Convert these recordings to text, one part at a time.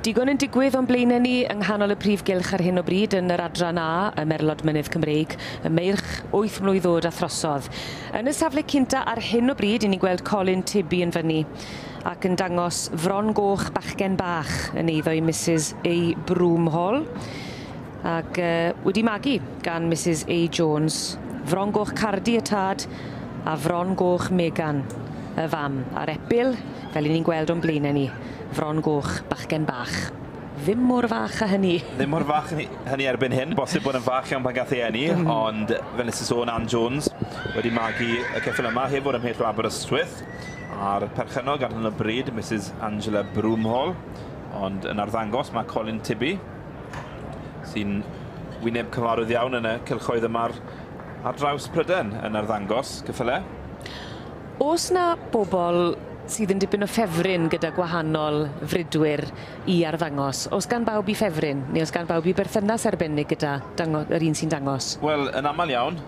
Digon yn digwydd o'n blaenau ni yng nghanol y prif gylch ar hyn o bryd yn yr adran A, y Merlod Mynydd Cymreig, y meirch 8 mlwydd oed a throsodd. Yn y safle cynta ar hyn o bryd, i ni'n gweld Colin Tibi yn fyny. ac yn dangos fron goch bachgen bach yn eiddo i Misus A. Broomhall ac yy wedi magu gan Misus A. Jones, fron goch Cardi y tad a fron goch Megan y fam, a'r epil, fel 'yn ni'n gweld o'n blaenau ni, fron goch bachgen bach. Ddim mor fach a hynny. Ddim mor fach a hynny erbyn hyn, bosib bod yn fach iawn pan gath ei eni, ond fel nes i sôn, Ann Jones wedi magu y ceffyl yma heb fod ymhell o Aberystwyth. a'r perchennog ar hyn o bryd, Misus Angela Broomhall, ond yn arddangos mae Colin Tibby, sy'n wyneb cyfarwydd iawn yn y cylchoedd yma ar draws Pryden, yn arddangos cyffyle. Os na bobl sydd yn dipyn o ffefryn gyda gwahanol fridwyr i arddangos, os gan bawb i ffefryn, neu os gan bawb i berthynas arbennig gyda dango- yr un sy'n dangos? Wel, yn aml iawn,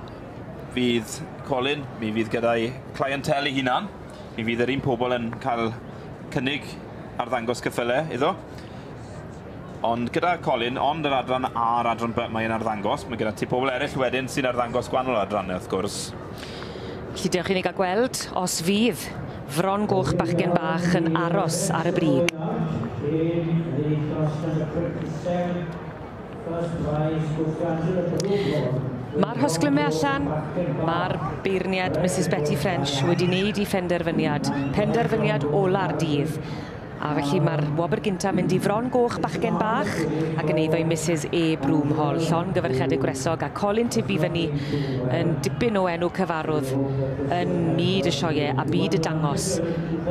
fydd Colin, mi fydd gyda'i clientèl ei hunan. Mi fydd yr un pobl yn cael cynnig ar ddangos cyffyle iddo. Ond gyda Colin, ond yr adran A a'r adran B mae'n arddangos, mae gyda ti pobl eraill wedyn sy'n arddangos gwahanol adrannau wrth gwrs. Felly dewch i ni gael gweld os fydd Fron Goch Bachgen Bach yn aros ar y brig. Mae'r hosglymau allan, mae'r beirniad Misus Betty French wedi wneud ei phenderfyniad, penderfyniad ola'r dydd. A felly mae'r wobr gynta mynd i Fron Goch bachgen bach ac yn eiddo i Misus E Broom Hall, llon gyferchedig gwresog a colyn tyfu fyny yn dipyn o enw cyfarwdd yn myd y sioeau a byd y dangos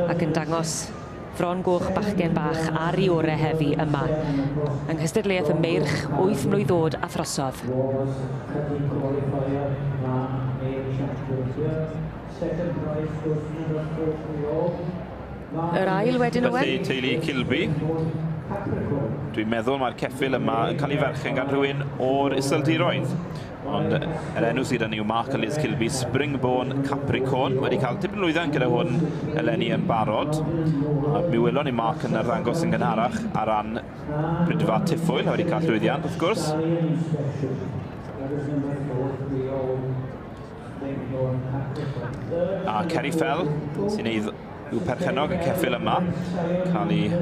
ac yn dangos Fron goch bachgen bach ar i ore heddi yma yng nghystadleuaeth y meirch wyth mlwydd oed a throsodd. Roberts Cydydd Qualifier Ran A Championship Second Prize Wrth Mynd Â Chwech Yn Ôl Yr ail wedyn Owen? Felly teulu Kilby, dwi'n meddwl mae'r ceffyl yma yn cael ei ferchen gan rhywun o'r Iseldiroedd. Ond yr enw sydd yn yw Mark Liz Kilby, Springborn Capricorn, wedi cael tipyn lwyddiant gyda hwn eleni yn barod. A mi welon ni Mark yn arddangos yn gynharach ar ran Brydfa Tiffwyl, a wedi cael lwyddiant wrth gwrs. A Kerry Fell, sy'n ei yw perchenog y ceffil yma, cael ei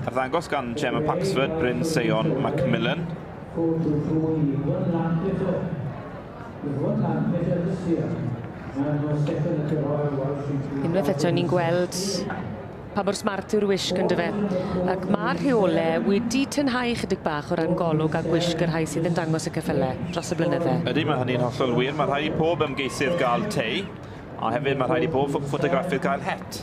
arddangos gan Gemma Paxford, Bryn Seion, Macmillan, Go to through i Iwan Lan Peter. Iwan Lan Peter this year. Mae yno Steffan y Cyhoedd Welsh yn crwydro... Unwaith eto ni'n gweld pa mor smart yw'r wisg ynddo fe. Ac mae'r rheolau wedi tynhau ychydig bach o ran golwg a gwisg y rhai sydd yn dangos y ceffylau dros y blynydde. Ydy, mae hynny'n hollol wir. Mae rhaid i pob ymgeisydd gael tei, a hefyd mae rhaid i bob ffotograffydd gael het.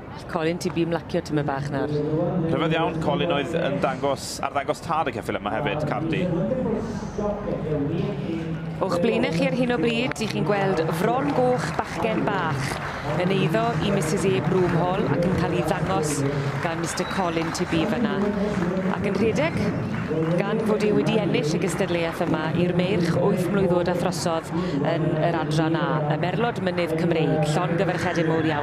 Colin, ti bum lacio tymed bach nawr. Rhyfedd iawn, Colin oedd yn dangos, ar ddangos tad y ceffyl yma hefyd, Cardi. O'ch blaenau chi ar hyn o bryd, i chi'n gweld fron goch bachgen bach yn eiddo i Mrs E. Broomhall ac yn cael ei ddangos gan Mr Colin Tibi fyna. Ac yn rhedeg, gan fod e wedi ennill y gystadleuaeth yma i'r meirch wyth mlwydd oed a throsodd yn yr adran A, y merlod mynydd Cymreig, llon gyferchedyn mowr iawn.